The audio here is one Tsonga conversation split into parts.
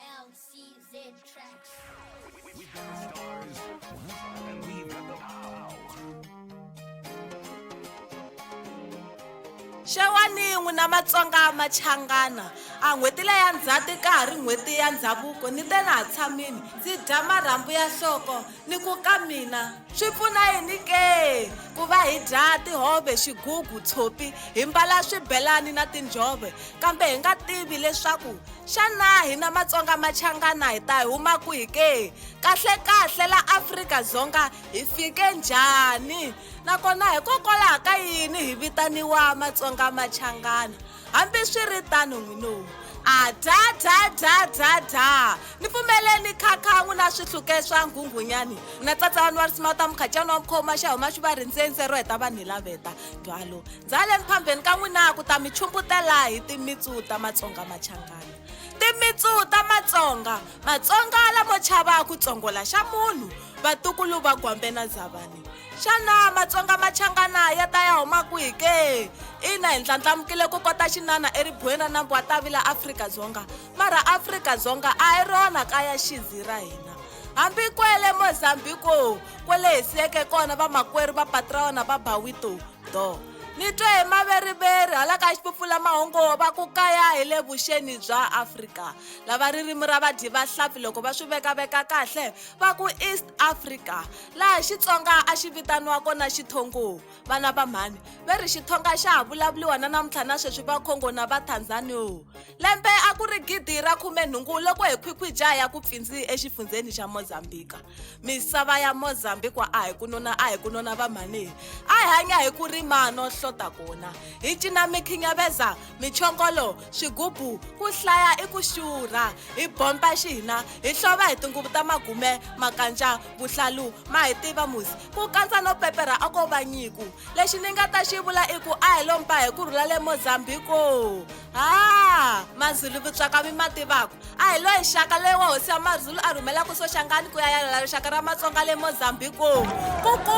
LCZ Tracks. We got the stars, and we've got the power. xewani n'wina matsonga machangana a n'hweti leya ndzhati ka ha ri n'hweti ya ndhavuko ni te na ha tshamini ndzi dya marhambu ya nhloko Ni ku ka mina swi pfuna yini ke ku va hi dya tihove, xigugu, tshopi, hi mbala swibelani na tinjhove kambe hi nga tivi leswaku xana hina Matsonga Machangana hi ta huma kwihi ke? Kahle-kahle la Afrika-Dzonga hi fike njhani? Nakona hikokwalaho ka yini hi vitaniwa Matsonga Machangana? hambiswiritano n'wino a dya dya dya dya dya ni pfumeleni khakha n'wi na swihluke swa nghunghunyani na tsatsa vanhu va ri sima u ta mukhacani wa mukhoma xa huma xi va rindzense ro heta vanhu hi laveta dwalo ndzale miphambeni ka n'wina ku ta mi chumbutela hi timitsu ta matsonga machangana timitsu ta matsonga matsonga lamo chava ku tsongola xa munhu vatukulu va gwambe na zavani xana matsonga machangana ya ta ya huma kwihi ke ina hi ndlandlamukile ku kota xinana eribuweni ra nambu wa tavila afrika-dzonga mara afrika-dzonga a hi rona kaya xinzi ra hina hambi kwele mozambiko kwele hi siyeke kona vamakwerhu va patraona va bawito do ni twe hi maveriveri hala ka xipupfula mahungu va ku kaya hi le vuxeni bya afrika lava ririmi ra vadyi vahlampfi loko va swi vekaveka kahle va ku east africa laha xitsonga a xi vitaniwa kona xithongo vana va mhani ve ri xithonga xa ha vulavuriwa na namuntlha na sweswi va congo na va tanzanio lembe a ku ri gidi ra khumenhungu loko hi khwikhwija ya ku pfindzi exifundzheni xa mozambika misava ya mozambika a hi ku nona a hi ku nona va mhani a hi hanya hi ku rima no hlota kona hi cina mikhinyaveza michongolo xigubu ku hlaya i ku xurha hi bompa xihina hi hlova hi tinguvu ta magume makantxa vuhlalu ma hi tiva musi ku kandza no pepera a ko va nyiku lexi ni nga ta xi vula i ku a hi lompa hi ku rhula le mozambiko ha mazulu vutswaka mi ma tivaka a hi loyi xaka loyi wa hosi ya mazulu a rhumelaka soxangani ku ya yalela rixaka ra matsonga le mozambiko ku ku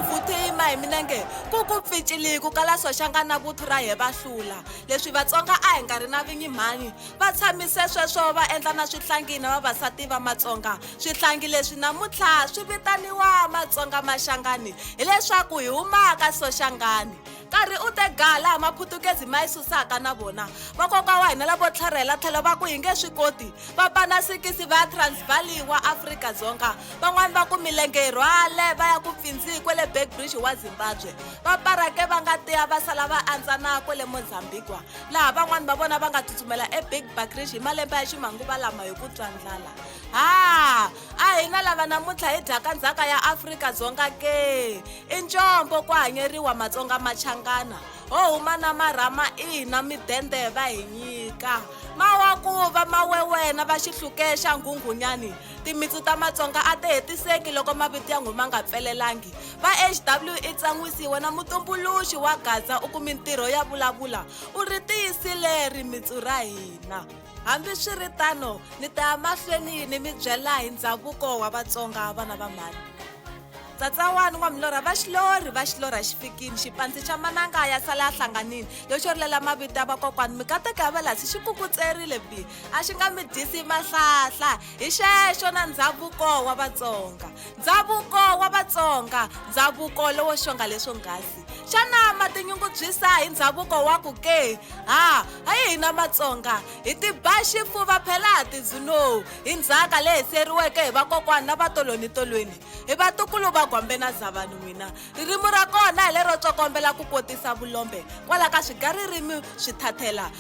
vuthu yima hi minenge ku ku pficiliki ku kala soxangani na vuthu ra hi va hlula leswi vatsonga a hi nga ri na vinyi mhani va tshamise sweswo va endla na swihlangi na vavasati va matsonga swihlangi leswi namuntlha swi vitaniwa matsonga maxangani hileswaku hi humaka soxangani nkarhi u te ga laha maphutukezi ma yi susaka na vona vakoka wa hina lavo tlharhela tlhelo va ku hi nge swi koti va pana sikisi va ya transvali wa afrika dzonga van'wani va ku milenge yi rhwale va ya ku pfindziki kwale backbridge wa zimbabwe Va Parake va nga tiya va sala va andzana kwale Mozambique, laha van'wana va vona va nga tsutsumela eBig Bakrish hi malembe ya ximanguva lama hi ku twa ndlala. Ha! A hi na lava namuntlha hi dyaka ndzhaka ya Afrika Dzonga ke? I ncombo ku hanyeriwa Matsonga Machangana, ho huma na marhama ina midende va hi nyika. Mawakuva, mawewena va xihluke xa Nghunghunyani, Timitsu ta Matsonga a ti hetiseki loko mavito ya nghuma nga pfelelangi. Va HW i tsan'wisiwe na mutumbuluxi wa Gaza u ku mintirho ya vulavula u ri tiyisile rimitsu ra hina. Hambi swi ri tano, ni ta ya mahlweni ni mi byela hi ndhavuko wa Vatsonga vana va mhani. Tsatsawani n'wa milorha va xilorhi va xilorha xi fikini xipandzi xa mananga ya sala ya hlanganini yo xorilela mavito ya vakokwani mikateko ya valasi xi kukutserile bi a xi nga mi dyisi mahlahla hi xexo na ndhavuko wa vatsonga ndhavuko wa vatsonga ndhavuko lowo xonga leswo nghasi xana ma tinyungubyisa hi ndhavuko wa ku ke ha a yi hina matsonga hi tiba xifuva phela ha tidzinowu hi ndzhaka leyi seriweke hi vakokwana na vatolonitolweni hi vatukulu va gwambe na zavani n'wina ririmi ra kona hi lero tsokombela ku kotisa vulombe kwala ka swigaririmi swi thathela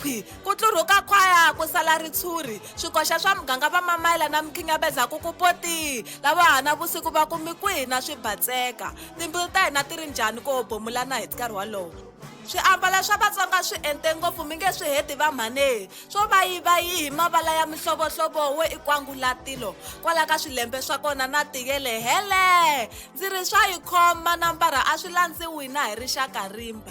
khwi ku tlurhuka khwaya ku sala ritshuri swikoxa swa muganga va mamayela na mikhinyabeza ku ku potii lava hana vusiku va kumi kwihi na swi batseka timbilu ta hina ti ri njhani ku obomulana hi nkarhi wolowo swiambalo swa vatsonga swi ente ngopfu mi nge swi heti va mhanehi swo va yi va yi hi mavala ya mihlovohlovo wo i kwangulatilo kwala ka swilembe swa kona na tiyele hele ndzi ri swa yi khoma na mbara a swi landziwi na hi rixaka rimba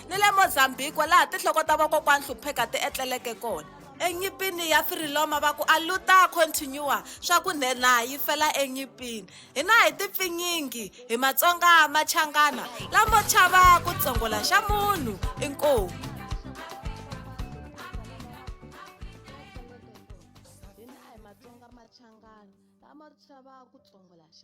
ni le Mozambique laha tinhloko ta vakokwana hlupheka ti etleleke kona enyipini ya firiloma va ku aluta continua swa ku nhenha yi fela enyipini hina hi tipfinyingi hi matsonga machangana lamo chava ku tsongola xa munhu inkomu lama chava ku tsongola xa